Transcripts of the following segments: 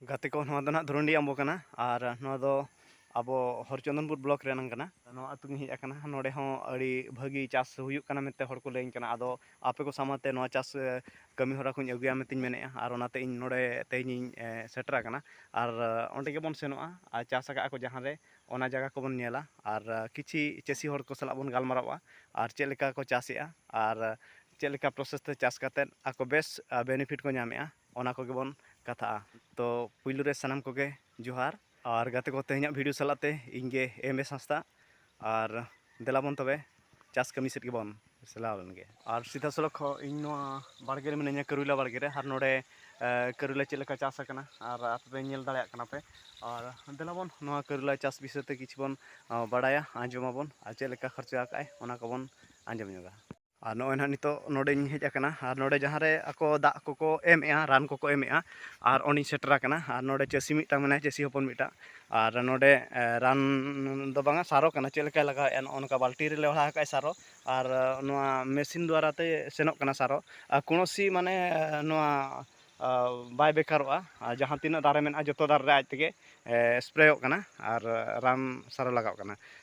ᱜᱟᱛᱮ ᱠᱚ ᱱᱚᱣᱟ ᱫᱚ ᱱᱟᱦᱟᱜ ᱫᱷᱩᱨᱩᱱᱰᱤ ᱟᱢᱵᱚ ᱠᱟᱱᱟ ᱟᱨ ᱱᱚᱣᱟ ᱫᱚ ᱟᱵᱚ ᱦᱚᱨᱪᱚᱱᱫᱚᱱᱯᱩᱨ ᱵᱞᱚᱠ ᱨᱮᱱᱟᱝ ᱠᱟᱱᱟ ᱱᱚᱣᱟ ᱟᱹᱛᱩ ᱜᱤᱧ ᱦᱮᱡ ᱟᱠᱟᱱᱟ ᱱᱚᱰᱮ ᱦᱚᱸ ᱟᱹᱰᱤ ᱵᱷᱟᱹᱜᱤ ᱪᱟᱥ ᱦᱩᱭᱩᱜ ᱠᱟᱱᱟ ᱢᱮᱱᱛᱮ ᱦᱚᱲ ᱠᱚ ᱞᱟᱹᱭᱟᱹᱧ ᱠᱟᱱᱟ ᱟᱫᱚ ᱟᱯᱮ ᱠᱚ ᱥᱟᱢᱟᱝ ᱛᱮ ᱱᱚᱣᱟ ᱪᱟᱥ ᱠᱟᱹᱢᱤ ᱦᱚᱨᱟ ᱠᱚᱧ ᱟᱹᱜᱩᱭᱟ ᱢᱮᱱᱛᱮᱧ ᱢᱮᱱᱮᱜᱼᱟ ᱟᱨ ᱚᱱᱟᱛᱮ ᱤᱧ ᱱᱚᱰᱮ ᱛᱮᱦᱮᱧᱤᱧ ᱥᱮᱴᱮᱨ ᱟᱠᱟᱱᱟ ᱟᱨ ᱚᱸᱰᱮ ᱜᱮᱵᱚᱱ ᱥᱮᱱᱚᱜᱼᱟ ᱟᱨ ᱪᱟᱥ ᱟᱠᱟᱜᱼᱟ ᱠᱚ ᱡᱟᱦᱟᱸ ᱨᱮ ᱚᱱᱟ ᱡᱟᱭᱜᱟ ᱠᱚᱵᱚᱱ ᱧᱮᱞᱟ ᱟᱨ ᱠᱤᱪᱷᱤ ᱪᱟᱹᱥᱤ ᱦᱚᱲ ᱠᱚ ᱥᱟᱞᱟᱜ ᱵᱚᱱ ᱜᱟᱞᱢᱟᱨᱟᱣᱟ ᱟᱨ ᱪᱮᱫ ᱞᱮᱠᱟ ᱠᱚ ᱪᱟᱥᱮᱜᱼᱟ ᱟᱨ ᱪᱮᱫ ᱞᱮᱠᱟ ᱯᱨᱚᱥᱮᱥ ᱛᱮ ᱪᱟᱥ ᱠᱟᱛᱮᱫ ᱟᱠᱚ ᱵᱮᱥ ᱵᱮᱱᱤᱯᱷᱤᱴ ᱠᱚ ᱧᱟᱢᱮᱜᱼᱟ ᱚᱱᱟ ᱠᱚᱜᱮ ᱵᱚᱱ ᱠᱟᱛᱷᱟᱜᱼᱟ ᱛᱚ ᱯᱩᱭᱞᱩ ᱨᱮ ᱥᱟᱱᱟᱢ ᱠᱚᱜᱮ ᱡᱚᱦᱟᱨ ᱟᱨ ᱜᱟᱛᱮ ᱠᱚ ᱛᱮᱦᱮᱧᱟᱜ ᱵᱷᱤᱰᱤᱭᱳ ᱥᱟᱞᱟᱜ ᱛᱮ ᱤᱧ ᱜᱮ ᱮᱢ ᱮᱥ ᱦᱟᱸᱥᱫᱟ ᱟᱨ ᱫᱮᱞᱟ ᱵᱚᱱ ᱛᱚᱵᱮ ᱪᱟᱥ ᱠᱟᱹᱢᱤ ᱥᱮᱫ ᱜᱮᱵᱚᱱ ᱪᱟᱞᱟᱣ ᱞᱮᱱ ᱜᱮ ᱟᱨ ᱥᱤᱫᱷᱟ ᱥᱚᱞᱚᱠ ᱦᱚᱸ ᱤᱧ ᱱᱚᱣᱟ ᱵᱟᱲᱜᱮ ᱨᱮ ᱢᱤᱱᱟᱹᱧᱟ ᱠᱟᱹᱨᱩᱭᱞᱟ ᱵᱟᱲᱜᱮ ᱨᱮ ᱟᱨ ᱱᱚᱰᱮ ᱠᱟᱹᱨᱩᱭᱞᱟ ᱪᱮᱫ ᱞᱮᱠᱟ ᱪᱟᱥ ᱟᱠᱟᱱᱟ ᱟᱨ ᱟᱯᱮ ᱯᱮ ᱧᱮᱞ ᱫᱟᱲᱮᱭᱟᱜ ᱠᱟᱱᱟ ᱯᱮ ᱟᱨ ᱫᱮᱞᱟ ᱵᱚᱱ ᱱᱚᱣᱟ ᱠᱟᱹᱨᱩᱭᱞᱟ ᱪᱟᱥ ᱵᱤᱥᱚᱭ ᱛᱮ ᱠᱤᱪᱷᱩ ᱵᱚᱱ ᱵᱟᱲᱟᱭᱟ ᱟᱸᱡᱚᱢ ᱟᱵᱚᱱ ᱟᱨ ᱪᱮᱫ ᱞᱮᱠᱟ ᱠᱷᱚᱨᱪᱟ ᱟᱠᱟᱫ ᱟᱭ ᱚᱱᱟ ᱠᱚᱵᱚᱱ ᱟᱸᱡᱚᱢ ᱧᱚᱜᱟ ᱟᱨ ᱱᱚᱜᱼᱚᱭ ᱱᱟᱦᱟᱜ ᱱᱤᱛᱚᱜ ᱱᱚᱰᱮᱧ ᱦᱮᱡ ᱟᱠᱟᱱᱟ ᱟᱨ ᱱᱚᱰᱮ ᱡᱟᱦᱟᱸ ᱨᱮ ᱟᱠᱚ ᱫᱟᱜ ᱠᱚᱠᱚ ᱮᱢᱮᱜᱼᱟ ᱨᱟᱱ ᱠᱚᱠᱚ ᱮᱢᱮᱜᱼᱟ ᱟᱨ ᱚᱸᱰᱮᱧ ᱥᱮᱴᱮᱨ ᱟᱠᱟᱱᱟ ᱟᱨ ᱱᱚᱰᱮ ᱪᱟᱹᱥᱤ ᱢᱤᱫᱴᱟᱝ ᱢᱮᱱᱟᱭᱟ ᱪᱟᱹᱥᱤ ᱦᱚᱯᱚᱱ ᱢᱤᱫᱴᱟᱝ ᱟᱨ ᱱᱚᱰᱮ ᱨᱟᱱ ᱫᱚ ᱵᱟᱝᱟ ᱥᱟᱨᱚ ᱠᱟᱱᱟ ᱪᱮᱫ ᱞᱮᱠᱟᱭ ᱞᱟᱜᱟᱣᱮᱜᱼᱟ ᱱᱚᱜᱼᱚ ᱱᱚᱝᱠᱟ ᱵᱟᱹᱞᱴᱤ ᱨᱮ ᱞᱮᱣᱦᱟ ᱟᱠᱟᱫ ᱟᱭ ᱥᱟᱨᱚ ᱟᱨ ᱱᱚᱣᱟ ᱢᱮᱥᱤᱱ ᱫᱟᱨᱟᱭ ᱛᱮ ᱥᱮᱱᱚᱜ ᱠᱟᱱᱟ ᱥᱟᱨᱚ ᱟᱨ ᱠᱳᱱᱳᱥᱤ ᱢᱟᱱᱮ ᱱᱚᱣᱟ ᱵᱟᱭ ᱵᱮᱠᱟᱨᱚᱜᱼᱟ ᱟᱨ ᱡᱟᱦᱟᱸ ᱛᱤᱱᱟᱹᱜ ᱫᱟᱨᱮ ᱢᱮᱱᱟᱜᱼᱟ ᱡᱚᱛᱚ ᱫᱟᱨᱮ ᱨᱮ ᱟᱡ ᱛᱮᱜᱮ ᱥᱯᱨᱮᱭᱚᱜ ᱠᱟᱱᱟ ᱟᱨ ᱨᱟᱱ ᱥᱟᱨ ᱞᱟᱜᱟᱣᱚᱜ ᱠᱟᱱᱟ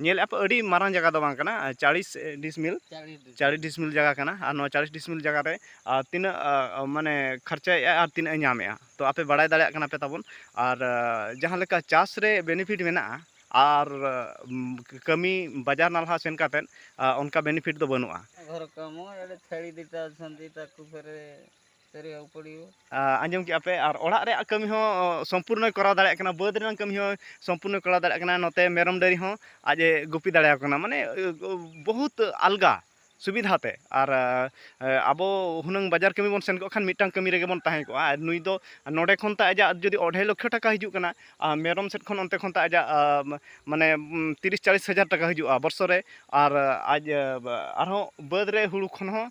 ᱧᱮᱞᱮᱫ ᱟᱯᱮ ᱟᱹᱰᱤ ᱢᱟᱨᱟᱝ ᱡᱟᱭᱜᱟ ᱫᱚ ᱵᱟᱝ ᱠᱟᱱᱟ ᱪᱟᱲᱤᱥ ᱰᱤᱥᱢᱤᱞ ᱪᱟᱲᱤᱥ ᱰᱤᱥᱢᱤᱞ ᱡᱟᱭᱜᱟ ᱠᱟᱱᱟ ᱟᱨ ᱱᱚᱣᱟ ᱪᱟᱲᱤᱥ ᱰᱤᱥᱢᱤᱞ ᱡᱟᱭᱜᱟ ᱨᱮ ᱛᱤᱱᱟᱹᱜ ᱢᱟᱱᱮ ᱠᱷᱚᱨᱪᱟᱭᱮᱫᱼᱟ ᱟᱨ ᱛᱤᱱᱟᱹᱜ ᱮ ᱧᱟᱢᱮᱫᱼᱟ ᱛᱚ ᱟᱯᱮ ᱵᱟᱲᱟᱭ ᱫᱟᱲᱮᱭᱟᱜ ᱠᱟᱱᱟ ᱯᱮ ᱛᱟᱵᱚᱱ ᱟᱨ ᱡᱟᱦᱟᱸ ᱞᱮᱠᱟ ᱪᱟᱥ ᱨᱮ ᱵᱮᱱᱤᱯᱷᱤᱴ ᱢᱮᱱᱟᱜᱼᱟ ᱟᱨ ᱠᱟᱹᱢᱤ ᱵᱟᱡᱟᱨ ᱱᱟᱞᱦᱟ ᱥᱮᱱ ᱠᱟᱛᱮᱫ ᱚᱱᱠᱟ ᱵᱮᱱᱤᱯᱷᱤᱴ ᱫᱚ ᱵᱟᱹᱱᱩᱜᱼᱟ ᱟᱸᱡᱚᱢ ᱠᱮᱜᱼᱟ ᱯᱮ ᱟᱨ ᱚᱲᱟᱜ ᱨᱮᱭᱟᱜ ᱠᱟᱹᱢᱤ ᱦᱚᱸ ᱥᱚᱢᱯᱩᱨᱱᱚᱭ ᱠᱚᱨᱟᱣ ᱫᱟᱲᱮᱭᱟᱜ ᱠᱟᱱᱟ ᱵᱟᱹᱫᱽ ᱨᱮᱱᱟᱜ ᱠᱟᱹᱢᱤ ᱦᱚᱸ ᱥᱚᱢᱯᱩᱨᱱᱚᱭ ᱠᱚᱨᱟᱣ ᱫᱟᱲᱮᱭᱟᱜ ᱠᱟᱱᱟ ᱱᱚᱛᱮ ᱢᱮᱨᱚᱢ ᱰᱟᱹᱝᱨᱤ ᱦᱚᱸ ᱟᱡ ᱮ ᱜᱩᱯᱤ ᱫᱟᱲᱮᱭᱟᱠᱚ ᱠᱟᱱᱟ ᱢᱟᱱᱮ ᱵᱚᱦᱩᱛ ᱟᱞᱜᱟ ᱥᱩᱵᱤᱫᱷᱟ ᱛᱮ ᱟᱨ ᱟᱵᱚ ᱦᱩᱱᱟᱹᱝ ᱵᱟᱡᱟᱨ ᱠᱟᱹᱢᱤ ᱵᱚᱱ ᱥᱮᱱ ᱠᱚᱜ ᱠᱷᱟᱱ ᱢᱤᱫᱴᱟᱱ ᱠᱟᱹᱢᱤ ᱨᱮᱜᱮ ᱵᱚᱱ ᱛᱟᱦᱮᱸ ᱠᱚᱜᱼᱟ ᱟᱨ ᱱᱩᱭ ᱫᱚ ᱱᱚᱰᱮ ᱠᱷᱚᱱ ᱛᱟᱭ ᱟᱡᱟᱜ ᱡᱩᱫᱤ ᱚᱰᱷᱮ ᱞᱚᱠᱠᱷᱚ ᱴᱟᱠᱟ ᱦᱤᱡᱩᱜ ᱠᱟᱱᱟ ᱟᱨ ᱢᱮᱨᱚᱢ ᱥᱮᱫ ᱠᱷᱚᱱ ᱚᱱᱛᱮ ᱠᱷᱚᱱ ᱛᱟᱭ ᱟᱡᱟᱜ ᱢᱟᱱᱮ ᱛᱤᱨᱤᱥ ᱪᱟᱞᱤᱥ ᱦᱟᱡᱟᱨ ᱴᱟᱠᱟ ᱦᱤᱡᱩᱜᱼᱟ ᱵᱚᱥᱚᱨ ᱨᱮ ᱟᱨ ᱟᱡ ᱟᱨᱦᱚᱸ ᱵᱟᱹᱫᱽ ᱨᱮ ᱦᱩᱲᱩ ᱠᱷᱚᱱ ᱦᱚᱸ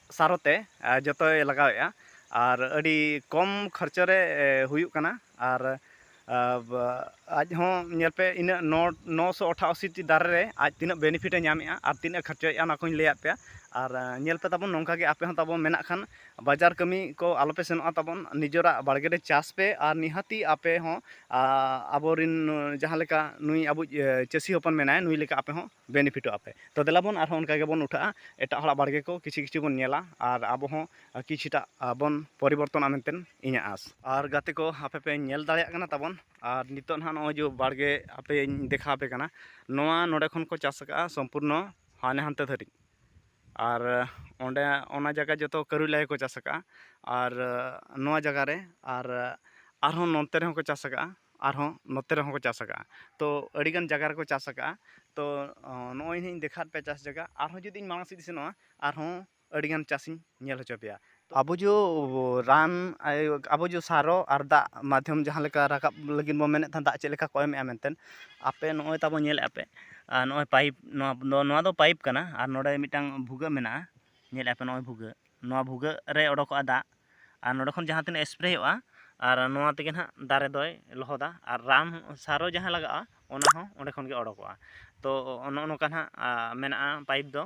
ᱥᱟᱨ ᱛᱮ ᱡᱚᱛᱚᱭ ᱞᱟᱜᱟᱣᱮᱜᱼᱟ ᱟᱨ ᱟᱹᱰᱤ ᱠᱚᱢ ᱠᱷᱚᱨᱪᱚ ᱨᱮ ᱦᱩᱭᱩᱜ ᱠᱟᱱᱟ ᱟᱨ ᱟᱡ ᱦᱚᱸ ᱧᱮᱞ ᱯᱮ ᱤᱱᱟᱹᱜ ᱱᱚ ᱱᱚᱥᱚ ᱚᱴᱷᱟᱥᱤ ᱴᱤ ᱫᱟᱨᱮ ᱨᱮ ᱟᱡ ᱛᱤᱱᱟᱹᱜ ᱵᱮᱱᱤᱯᱷᱤᱴᱮ ᱧᱟᱢᱮᱜᱼᱟ ᱟᱨ ᱛᱤᱱᱟᱹᱜ ᱠᱷᱚᱨᱪᱚᱭᱮᱜᱼᱟ ᱚᱱᱟ ᱠᱚᱦᱚᱸᱧ ᱞᱟᱹᱭᱟᱫ ᱯᱮᱭᱟ ᱟᱨ ᱧᱮᱞ ᱯᱮ ᱛᱟᱵᱚᱱ ᱱᱚᱝᱠᱟ ᱜᱮ ᱟᱯᱮ ᱦᱚᱸ ᱛᱟᱵᱚᱱ ᱢᱮᱱᱟᱜ ᱠᱷᱟᱱ ᱵᱟᱡᱟᱨ ᱠᱟᱹᱢᱤ ᱠᱚ ᱟᱞᱚ ᱯᱮ ᱥᱮᱱᱚᱜᱼᱟ ᱛᱟᱵᱚᱱ ᱱᱤᱡᱮᱨᱟᱜ ᱵᱟᱲᱜᱮ ᱨᱮ ᱪᱟᱥ ᱯᱮ ᱟᱨ ᱱᱤᱦᱟᱹᱛᱤ ᱟᱯᱮ ᱦᱚᱸ ᱟᱵᱚ ᱨᱤᱱ ᱡᱟᱦᱟᱸ ᱞᱮᱠᱟ ᱱᱩᱭ ᱟᱵᱚᱭᱤᱡ ᱪᱟᱹᱥᱤ ᱦᱚᱯᱚᱱ ᱢᱮᱱᱟᱭᱟ ᱱᱩᱭ ᱞᱮᱠᱟ ᱟᱯᱮ ᱦᱚᱸ ᱵᱮᱱᱤᱯᱷᱤᱴᱚᱜ ᱟᱯᱮ ᱛᱚ ᱫᱮᱞᱟ ᱵᱚᱱ ᱟᱨᱦᱚᱸ ᱚᱱᱠᱟ ᱜᱮᱵᱚᱱ ᱩᱴᱷᱟᱹᱜᱼᱟ ᱮᱴᱟᱜ ᱦᱚᱲᱟᱜ ᱵᱟᱲᱜᱮ ᱠᱚ ᱠᱤᱪᱷᱩ ᱠᱤᱪᱷᱩ ᱵᱚᱱ ᱧᱮᱞᱟ ᱟᱨ ᱟᱵᱚ ᱦᱚᱸ ᱠᱤᱪᱷᱩᱴᱟ ᱵᱚᱱ ᱯᱚᱨᱤᱵᱚᱨᱛᱚᱱᱚᱜᱼᱟ ᱢᱮᱱᱛᱮ ᱤᱧᱟᱹᱜ ᱟᱸᱥ ᱟᱨ ᱜᱟᱛᱮ ᱠᱚ ᱟᱯᱮ ᱯᱮ ᱧᱮᱞ ᱫᱟᱲᱮᱭᱟᱜ ᱠᱟᱱᱟ ᱛᱟᱵᱚᱱ ᱟᱨ ᱱᱤᱛᱚᱜ ᱱᱟᱦᱟᱜ ᱱᱚᱜᱼᱚᱭ ᱡᱮ ᱵᱟᱲᱜᱮ ᱟᱯᱮᱧ ᱫᱮᱠᱷᱟᱣ ᱟᱯᱮ ᱠᱟᱱᱟ ᱱᱚᱣᱟ ᱱᱚᱰᱮ ᱠᱷᱚᱱ ᱠᱚ ᱪᱟᱥ ᱠᱟᱜᱼᱟ ᱥᱚᱢᱯᱩᱨᱱᱚ ᱦᱟᱱᱮ ᱦᱟᱱᱛᱮ ᱫᱷᱟᱹᱨᱤᱡ ᱟᱨ ᱚᱸᱰᱮ ᱚᱱᱟ ᱡᱟᱭᱜᱟ ᱡᱚᱛᱚ ᱠᱟᱹᱨᱩᱭᱞᱟ ᱜᱮᱠᱚ ᱪᱟᱥ ᱟᱠᱟᱫᱼᱟ ᱟᱨ ᱱᱚᱣᱟ ᱡᱟᱭᱜᱟ ᱨᱮ ᱟᱨ ᱟᱨᱦᱚᱸ ᱱᱚᱛᱮ ᱨᱮᱦᱚᱸ ᱠᱚ ᱪᱟᱥ ᱟᱠᱟᱫᱼᱟ ᱟᱨᱦᱚᱸ ᱱᱚᱛᱮ ᱨᱮᱦᱚᱸ ᱠᱚ ᱪᱟᱥ ᱟᱠᱟᱫᱼᱟ ᱛᱚ ᱟᱹᱰᱤ ᱜᱟᱱ ᱡᱟᱭᱜᱟ ᱨᱮᱠᱚ ᱪᱟᱥ ᱟᱠᱟᱫᱼᱟ ᱛᱚ ᱱᱚᱜᱼᱚᱭ ᱦᱟᱸᱜ ᱤᱧ ᱫᱮᱠᱷᱟᱣᱟᱫ ᱯᱮᱭᱟ ᱪᱟᱥ ᱡᱟᱭᱜᱟ ᱟᱨᱦᱚᱸ ᱡᱩᱫᱤ ᱢᱟᱲᱟᱝ ᱥᱮᱫ ᱤᱧ ᱥᱮᱱᱚᱜᱼᱟ ᱟᱨᱦᱚᱸ ᱟᱹᱰᱤ ᱜᱟᱱ ᱪᱟᱥ ᱤᱧ ᱧᱮᱞ ᱦᱚᱪᱚ ᱯᱮᱭᱟ ᱟᱵᱚ ᱡᱚ ᱨᱟᱱ ᱟᱵᱚ ᱡᱚ ᱥᱟᱨᱚ ᱟᱨ ᱫᱟᱜ ᱢᱟᱫᱽᱫᱷᱚᱢ ᱡᱟᱦᱟᱸ ᱞᱮᱠᱟ ᱨᱟᱠᱟᱵ ᱞᱟᱹᱜᱤᱫ ᱵᱚᱱ ᱢᱮᱱᱮᱫ ᱛᱟᱦᱮᱱ ᱫᱟᱜ ᱪᱮᱫ ᱞᱮᱠᱟ ᱠᱚ ᱮᱢᱮᱜᱼᱟ ᱢᱮᱱᱛᱮ ᱟᱯᱮ ᱱᱚᱜᱼᱚᱭ ᱛᱟᱵᱚ ᱧᱮᱞᱮᱜᱼᱟ ᱯᱮ ᱟᱨ ᱱᱚᱜᱼᱚᱭ ᱯᱟᱭᱤᱯ ᱱᱚᱣᱟ ᱫᱚ ᱯᱟᱭᱤᱯ ᱠᱟᱱᱟ ᱟᱨ ᱱᱚᱰᱮ ᱢᱤᱫᱴᱟᱝ ᱵᱷᱩᱜᱟᱹᱜ ᱢᱮᱱᱟᱜᱼᱟ ᱧᱮᱞᱮᱜᱼᱟ ᱯᱮ ᱱᱚᱜᱼᱚᱭ ᱵᱷᱩᱜᱟᱹᱜ ᱱᱚᱣᱟ ᱵᱷᱩᱜᱟᱹᱜ ᱨᱮ ᱚᱰᱚᱠᱚᱜᱼᱟ ᱫᱟᱜ ᱟᱨ ᱱᱚᱰᱮ ᱠᱷᱚᱱ ᱡᱟᱦᱟᱸ ᱛᱤᱱᱟᱹᱜ ᱮᱥᱯᱨᱮᱭᱚᱜᱼᱟ ᱟᱨ ᱱᱚᱣᱟ ᱛᱮᱜᱮ ᱱᱟᱦᱟᱜ ᱫᱟᱨᱮ ᱫᱚᱭ ᱞᱚᱦᱚᱫᱟ ᱟᱨ ᱨᱟᱱ ᱥᱟᱨᱚ ᱡᱟᱦᱟᱸ ᱞᱟᱜᱟᱜᱼᱟ ᱚᱱᱟ ᱦᱚᱸ ᱚᱸᱰᱮ ᱠᱷᱚᱱ ᱜᱮ ᱚᱰᱚᱠᱚᱜᱼᱟ ᱛᱚ ᱱᱚᱜᱼᱚ ᱱᱚᱝᱠᱟ ᱱᱟᱜ ᱢᱮᱱᱟᱜᱼᱟ ᱯᱟᱭᱤᱯ ᱫᱚ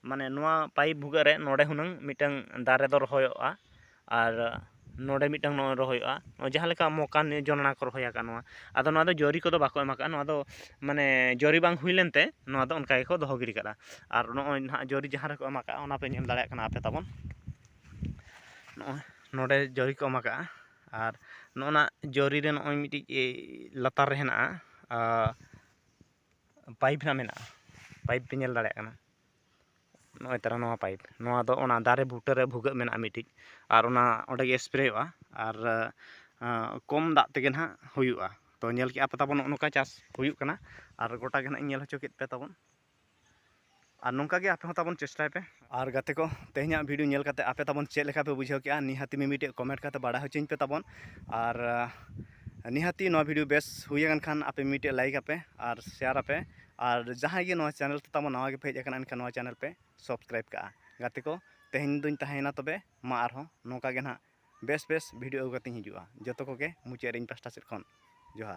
ᱢᱟᱱᱮ ᱱᱚᱣᱟ ᱯᱟᱭᱤᱯ ᱵᱷᱩᱜᱟᱹᱜ ᱨᱮ ᱱᱚᱰᱮ ᱦᱩᱱᱟᱹᱝ ᱢᱤᱫᱴᱟᱹᱝ ᱫᱟᱨᱮ ᱫᱚ ᱨᱚᱦᱚᱭᱚᱜᱼᱟ ᱟᱨ ᱱᱚᱰᱮ ᱢᱤᱫᱴᱟᱹᱝ ᱱᱚᱜᱼᱚᱭ ᱨᱚᱦᱚᱭᱚᱜᱼᱟ ᱡᱟᱦᱟᱸ ᱞᱮᱠᱟ ᱢᱚᱠᱟ ᱱᱤᱭᱮ ᱡᱚᱱᱚᱲᱟ ᱠᱚ ᱨᱚᱦᱚᱭ ᱟᱠᱟᱫ ᱱᱚᱣᱟ ᱟᱫᱚ ᱱᱚᱣᱟ ᱫᱚ ᱡᱚᱨᱤ ᱠᱚᱫᱚ ᱵᱟᱠᱚ ᱮᱢ ᱟᱠᱟᱫᱼᱟ ᱱᱚᱣᱟ ᱫᱚ ᱢᱟᱱᱮ ᱡᱚᱨᱤ ᱵᱟᱝ ᱦᱩᱭ ᱞᱮᱱᱛᱮ ᱱᱚᱣᱟ ᱫᱚ ᱚᱱᱠᱟ ᱜᱮᱠᱚ ᱫᱚᱦᱚ ᱜᱤᱰᱤ ᱠᱟᱫᱟ ᱟᱨ ᱱᱚᱜᱼᱚᱭ ᱱᱟᱜ ᱡᱚᱨᱤ ᱡᱟᱦᱟᱸ ᱨᱮᱠᱚ ᱮᱢ ᱟᱠᱟᱫᱼᱟ ᱚᱱᱟ ᱯᱮ ᱧᱮᱞ ᱫᱟᱲᱮᱭᱟᱜ ᱠᱟᱱᱟ ᱟᱯᱮ ᱛᱟᱵᱚᱱ ᱱᱚᱜᱼᱚᱭ ᱱᱚᱰᱮ ᱡᱚᱨᱤ ᱠᱚ ᱮᱢ ᱟᱠᱟᱫᱼᱟ ᱟᱨ ᱱᱚᱜᱼᱚ ᱱᱟ ᱡᱚᱨᱤ ᱨᱮ ᱱᱚᱜᱼᱚᱭ ᱢᱤᱫᱴᱤᱡ ᱞᱟᱛᱟᱨ ᱨᱮ ᱦᱮᱱᱟᱜᱼᱟ ᱯᱟᱭᱤᱯ ᱦᱟᱸᱜ ᱢᱮᱱᱟᱜᱼᱟ ᱯᱟᱭᱤᱯ ᱯᱮ ᱧᱮᱞ ᱫᱟᱲᱮᱭᱟᱜ ᱠᱟᱱᱟ ᱱᱚᱜᱼᱚᱭ ᱛᱟᱨᱟ ᱱᱚᱣᱟ ᱯᱟᱭᱤᱯ ᱱᱚᱣᱟ ᱫᱚ ᱚᱱᱟ ᱫᱟᱨᱮ ᱵᱩᱴᱟᱹ ᱨᱮ ᱵᱷᱩᱜᱟᱹᱜ ᱢᱮᱱᱟᱜᱼᱟ ᱢᱤᱫᱴᱤᱡ ᱟᱨ ᱚᱱᱟ ᱚᱸᱰᱮ ᱜᱮ ᱥᱯᱨᱮᱭᱟᱜᱼᱟ ᱟᱨ ᱠᱚᱢ ᱫᱟᱜ ᱛᱮᱜᱮ ᱱᱟᱦᱟᱜ ᱦᱩᱭᱩᱜᱼᱟ ᱛᱚ ᱧᱮᱞ ᱠᱮᱜᱼᱟ ᱯᱮ ᱛᱟᱵᱚᱱ ᱱᱚᱜᱼᱚ ᱱᱚᱝᱠᱟ ᱪᱟᱥ ᱦᱩᱭᱩᱜ ᱠᱟᱱᱟ ᱟᱨ ᱜᱚᱴᱟ ᱜᱮ ᱱᱟᱦᱟᱜ ᱤᱧ ᱧᱮᱞ ᱦᱚᱪᱚ ᱠᱮᱜ ᱯᱮ ᱛᱟᱵᱚᱱ ᱟᱨ ᱱᱚᱝᱠᱟ ᱜᱮ ᱟᱯᱮ ᱦᱚᱸ ᱛᱟᱵᱚᱱ ᱪᱮᱥᱴᱟᱭ ᱯᱮ ᱟᱨ ᱜᱟᱛᱮ ᱠᱚ ᱛᱮᱦᱮᱧᱟᱜ ᱵᱷᱤᱰᱤᱭᱳ ᱧᱮᱞ ᱠᱟᱛᱮ ᱟᱯᱮ ᱛᱟᱵᱚᱱ ᱪᱮᱫ ᱞᱮᱠᱟ ᱯᱮ ᱵᱩᱡᱷᱟᱹᱣ ᱠᱮᱜᱼᱟ ᱱᱤᱦᱟᱹᱛᱤ ᱢᱤᱢᱤᱫᱴᱮᱡ ᱠᱚᱢᱮᱱᱴ ᱠᱟᱛᱮ ᱵᱟᱲᱟᱭ ᱦᱚᱪᱚᱧ ᱯᱮ ᱛᱟᱵᱚᱱ ᱟᱨ ᱱᱤᱦᱟᱹᱛᱤ ᱱᱚᱣᱟ ᱵᱷᱤᱰᱤᱭᱳ ᱵᱮᱥ ᱦᱩᱭ ᱟᱠᱟᱱ ᱠᱷᱟᱱ ᱟᱯᱮ ᱢᱤᱢᱤᱫᱴᱮᱡ ᱞᱟᱭᱤᱠ ᱟᱯᱮ ᱟᱨ ᱥᱮᱭᱟᱨ ᱟᱯᱮ ᱟᱨ ᱡᱟᱦᱟᱸᱭ ᱜᱮ ᱱᱚᱣᱟ ᱪᱮᱱᱮᱞ ᱛᱮ ᱛᱟᱵᱚᱱ ᱱᱟᱣᱟ ᱜᱮᱯᱮ ᱦᱮᱡ ᱟᱠᱟᱱᱟ ᱮᱱᱠᱷᱟᱱ ᱱᱚᱣᱟ ᱪᱮᱱᱮᱞ ᱯᱮ ᱥᱟᱵᱥᱠᱨᱟᱭᱤᱵ ᱠᱟᱜᱼᱟ ᱜᱟᱛᱮ ᱠᱚ ᱛᱮᱦᱮᱧ ᱫᱚᱧ ᱛᱟᱦᱮᱸᱭᱮᱱᱟ ᱛᱚᱵᱮ ᱢᱟ ᱟᱨᱦᱚᱸ ᱱᱚᱝᱠᱟ ᱜᱮ ᱱᱟᱦᱟᱜ ᱵᱮᱥ ᱵᱮᱥ ᱵᱷᱤᱰᱤᱭᱳ ᱟᱹᱜᱩ ᱠᱟᱛᱮᱧ ᱦᱤᱡᱩᱜᱼᱟ ᱡᱚᱛᱚ ᱠᱚᱜᱮ ᱢᱩᱪᱟᱹᱫ ᱨᱮ ᱤᱧ ᱯᱟᱥᱴᱟ ᱥᱮᱫ ᱠᱷᱚᱱ ᱡᱚᱦᱟᱨ